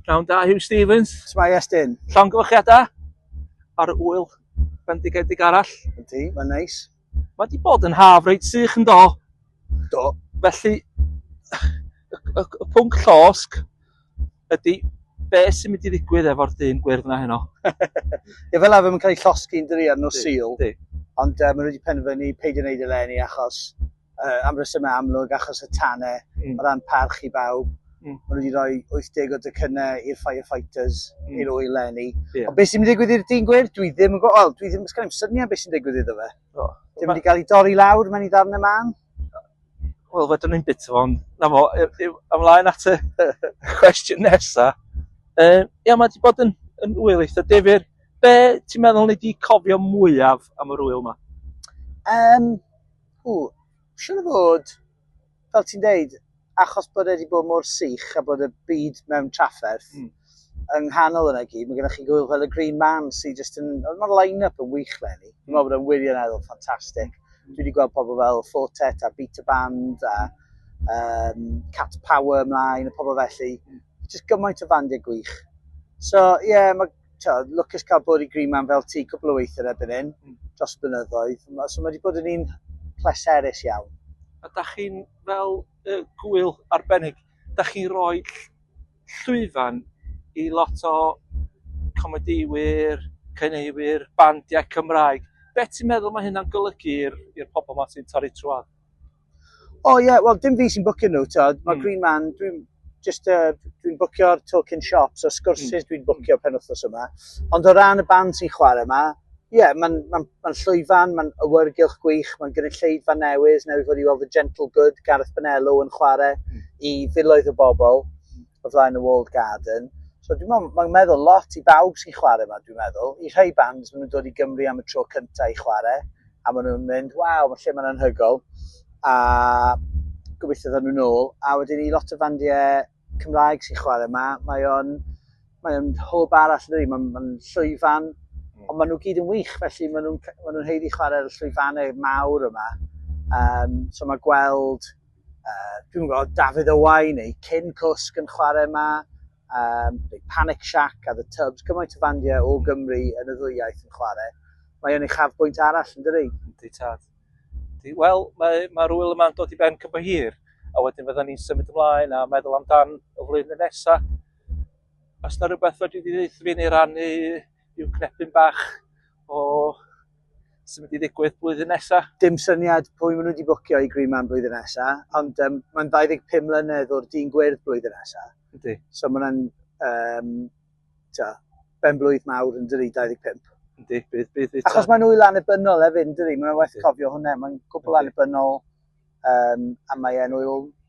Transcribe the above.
Pnawn da, Huw Stephens. Shwmae Estyn? Llongyfarchiadau ar y ŵyl bendigedig arall. Ydy, mae'n neis. Mae wedi bod yn haf reit sych yn do. Do. Felly, y, y pwnc llosg ydy be sy'n mynd i ddigwydd efo'r dyn gwyrdd yna heno. Ie, fel arfer mae'n cael ei llosgi'n dyri ar nos Sul. Ond uh, maen nhw wedi penderfynu peidio wneud y lenni achos uh, am resymau amlwg achos y tanau mm. o ran parch i bawb. Mm. Maen nhw wedi rhoi 80 o dycynnau i'r firefighters, mm. i'r oil lenni. Yeah. Ond beth sy'n mynd i ddigwydd i'r dyn gwir? Dwi ddim yn gwybod, dwi ddim yn sgan i'm syniad beth sy'n digwydd iddo fe. Oh. Ddim wedi cael ei dorri lawr, mae'n ei ddarn y man. Wel, wedyn ni'n bit o'n... Na mo, ymlaen at y cwestiwn nesa. Uh, ia, mae wedi bod yn, yn wyl eitha defyr. Be ti'n meddwl ni wedi cofio mwyaf am yr wyl yma? Um, Ww, siŵr o fod, fel ti'n deud, achos bod e wedi bod mor sych a bod y byd mewn trafferth, mm. yng nghanol yna gyd, mae gennych chi gwyl fel y Green Man sy'n just yn... Mae'r line-up yn wych le ni. Dwi'n meddwl bod e'n wirioneddol ffantastig. Mm. Dwi wedi gweld pobl fel Fortet a Beta Band a um, Cat Power ymlaen, y pobl felly. Mm. Just gymaint o fandiau gwych. So, ie, yeah, mae Tywed, lwcus cael bod i Green Man fel ti cwpl o weithiau erbyn hyn, hmm. dros blynyddoedd. So mae wedi bod yn un pleserus iawn. A da chi'n fel y gwyl arbennig, da chi roi llwyfan i lot o comedïwyr, cyneuwyr, bandiau Cymraeg. Be ti'n meddwl mae hynna'n golygu i'r pobl ma sy'n torri trwad? O oh, ie, yeah, wel dim fi sy'n bwcio nhw, tyd. Mae mm. Green Man, dwi'n just, uh, dwi'n bwcio'r token shops a sgwrsydd mm. dwi'n bwcio pen wythnos yma. Ond o ran y band sy'n chwarae yma, ie, yeah, mae'n ma, n, ma n llwyfan, mae'n awyrgylch gwych, mae'n gynulleidfa newydd, newydd fod i weld y Gentle Good, Gareth Benello yn chwarae mm. i filoedd o bobl. o flaen y walled garden. So dwi'n meddwl, mae'n meddwl lot i bawb sy'n chwarae yma, dwi'n meddwl. I rhai bands, maen nhw'n dod i Gymru am y tro cyntaf i chwarae, a maen nhw'n mynd, waw, mae lle mae'n anhygol. A gobeithio ddod nhw'n ôl. A wedyn i lot o fandiau Cymraeg sy'n chwarae yma, mae o'n mae o'n hwb arall yn mae'n ma llwyfan, mm. ond maen nhw gyd yn wych, felly maen nhw'n ma nhw heiddi chwarae'r llwyfannau mawr yma. Um, so mae gweld uh, dwi'n gwybod, Dafydd Owain neu Cyn Cwsg yn chwarae yma, um, neu Panic Shack a The Tubs, gymaint o fandiau o Gymru yn y ddwy iaith yn chwarae. Mae o'n ei chaf bwynt arall yn dyri. Yndi tad. Wel, mae'r mae, mae rwyl yma'n dod i ben cymryd hir, a wedyn fydda ni'n symud ymlaen a meddwl amdan y flwyddyn nesaf. Os na rhywbeth fedri di ddeitha fi neu rannu yw cnepyn bach o sy'n mynd i ddigwydd blwyddyn nesaf. Dim syniad pwy maen nhw wedi bwcio i Green Man blwyddyn nesaf, ond um, mae'n 25 mlynedd o'r dyn gwyrdd blwyddyn nesaf. Ydy. So mae'n um, ben blwydd mawr yn dyri 25. Ydy, bydd, bydd, bydd. Achos mae'n wyl anebynol hefyd yn dyri, mae'n waith cofio hwnna, mae'n gwbl anebynol um, a mae'n wyl